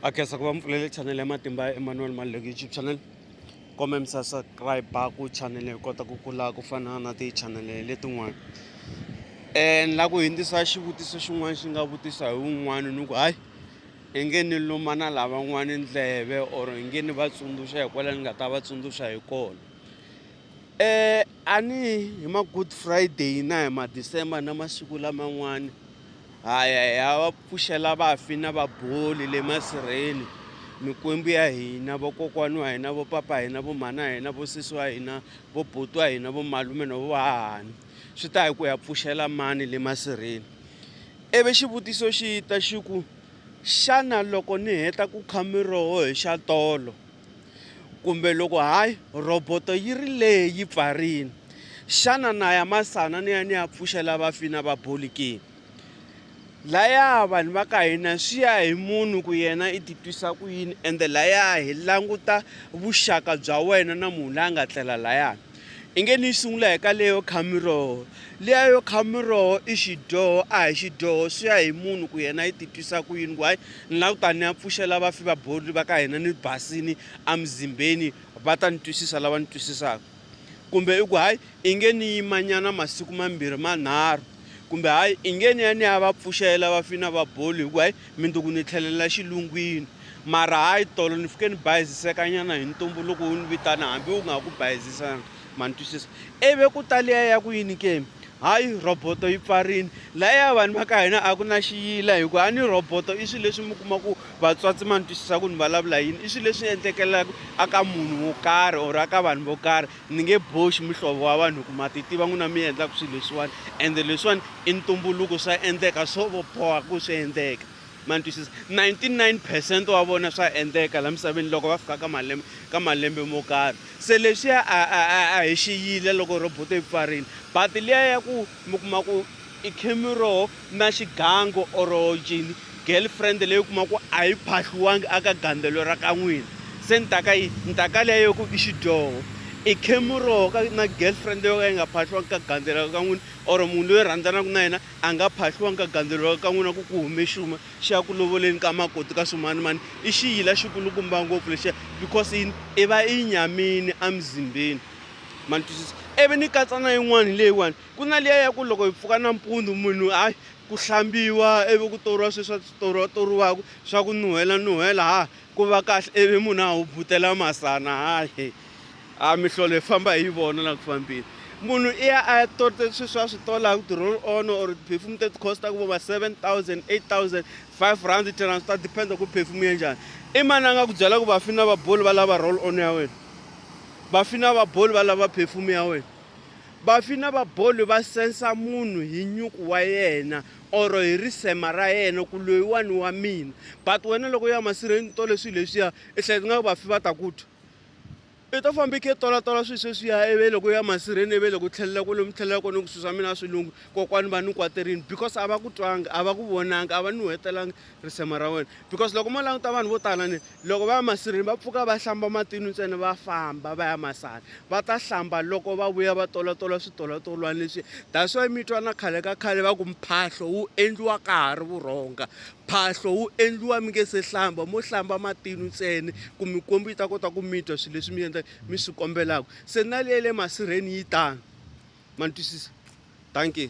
a khensa ku va mi pfulele chanele ya matimba ya emmanuel maluleke youtube channel kombe mi subscribe ku chanele hi kota ku kula ku fana na tichanele letin'wana um ni lava ku hindzisa xivutiso xin'wana xi nga vutisa hi wun'wana ni ku hayi i nge ni luma na lavan'wana ndleve or i nge ni va tsundzuxa hi kwala ni nga ta va tsundzuxa hi kona E a ni hi ma-good Friday na hi ma-December na masiku laman'wani ha ya hi ya va pfuxela vafi na vaboli le masirheni mikwembu ya hina vokokwani wa hina vo papa hina vo mhana hina vo sesi wa hina vo buti wa hina vo malume no vo hahani swi ta hi ku ya pfuxela mani le masirheni ivi xivutiso xi ta xi ku xana loko ni heta ku kha miroho hi xa tolo. Kumbe loko hayi, rhoboto yi ri lehe yi pfarile, xana na ya masana ni ya ni ya pfuxela vafi na vaboli ke? Laya vanhu va ka hina swi ya hi munhu ku yena i titwisa ku yini ende laya hi languta vuxaka bya wena na munhu la nga tlela layani I nge ni yi sungula hi ka leyo kha miroho liya yo kha miroho i xidyoho a hi xidyoho swi ya hi munhu ku yena yi titwisa ku yini ku hayi ni la ku ta ni ya pfuxela vafi va borili va ka hina ni basini emuzimbeni va ta ni twisisa lava ni twisisaka kumbe i ku hayi i nge ni yimanyana masiku mambirhi manharhu Kumbe hayi, inge ni ya ni ya va pfuxela va fina va boli hi ku hayi minduku ni tlhelela xilungwini. Mara hayi tolo ni fike ni bayizisekanyana hi ntumbu loko u ni vitana hambi u nga ha ku bayizisanga. Ma ni twisisa? Ivi ku ta liya ya ku yini ke? Hayi rhoboto yi pfarile. Lahaya vanhu va ka hina a ku na xiyila hi ku a ni rhoboto i swilo leswi mi kuma ku vatswatsi ma ni twisisa ku ni vulavula yini i swilo leswi endlekelaka a ka munhu wo karhi or a ka vanhu vo karhi Ni nge boxi muhlovo wa vanhu ku ma ti tiva n'wina mi endlaka swilo leswiwani ende leswiwani i ntumbuluko swa endleka swo boha ku swi endleka ma ni twisisa 99 percent wa vona swa endleka la misaveni loko va fika ka malembe ka malembe mo karhi se leswiya a hi xiyile loko roboto yi pfarile but liya ya ku mi kuma ku I khemi ro na xigango or njhini girlfriend leyi u kuma ku a yi phahliwangi aka gandzelo ra ka n'wina se ni ta ka yi ni ta ka leyo ku i xidyoho i khemi ro ka na girlfriend yo ka yi nga phahliwangi ka gandzelo ra ka n'wina or munhu loyi rhandzanaka na yena a nga phahliwangi ka gandzelo ra ka n'wina ku ku hume xuma xi ya ku lovoleni ka makoti ka swimanimani i xiyila xikulukumba ngopfu lexiya because yini i va i nyamini emzimbeni ma ni twisisa ivi ni katsa na yin'wana hi leyiwani Ku na liya ya ku loko hi pfuka nampundzu munhu a ku hlambiwa ivi ku toriwa swi swa toriwa toriwaka swa ku nuhela nuhela ha ku va kahle ivi munhu a hubutela masana hayi a mihlolo hi famba hi yi vona la ku fambeni munhu i ya a ya torite swi swa swi tolaka ti-roll on or ti-perfume teti cost-aka vo ma seven thousand eight thousand five rand ten rand swi ta depend ku perfume ya njhani i mani a nga ku byela ku vafini na vaboli va lava roll on ya wena vafini na vaboli va lava perfume ya wena Vafi na vaboli va sensa munhu hi nyuku wa yena or hi risema ra yena ku loyiwani wa mina but wena loko u ya masirheni u tole swilo leswiya i hleketa nga ku vafi va ta ku twa. I to famba i khe i tolatola swilo sweswiya ivi loko u ya masirheni ivi loko u tlhelela kwale mi tlhelela kona ku swilo swa mina a swi lunghi kokwani va ni kwaterini because a va ku twanga a va ku vonanga a va ni nuhetelanga risema ra wena because loko mo languta vanhu vo tala ni loko va ya masirheni va pfuka va hlamba matini ntsena va famba va ya masana va ta hlamba loko va vuya va tolatola switolotolwana leswi that's why mi twa na khale ka khale va ku mphahlo wu endliwa ka ha ri vurhonga mphahlo wu endliwa mi nge se hlamba mo hlamba matini ntsena ku mikwembu yi ta kota ku mi twa swilo leswi mi endla mi swi kombelaka se na leyi le masirheni yi tano ma ni twisisa thank you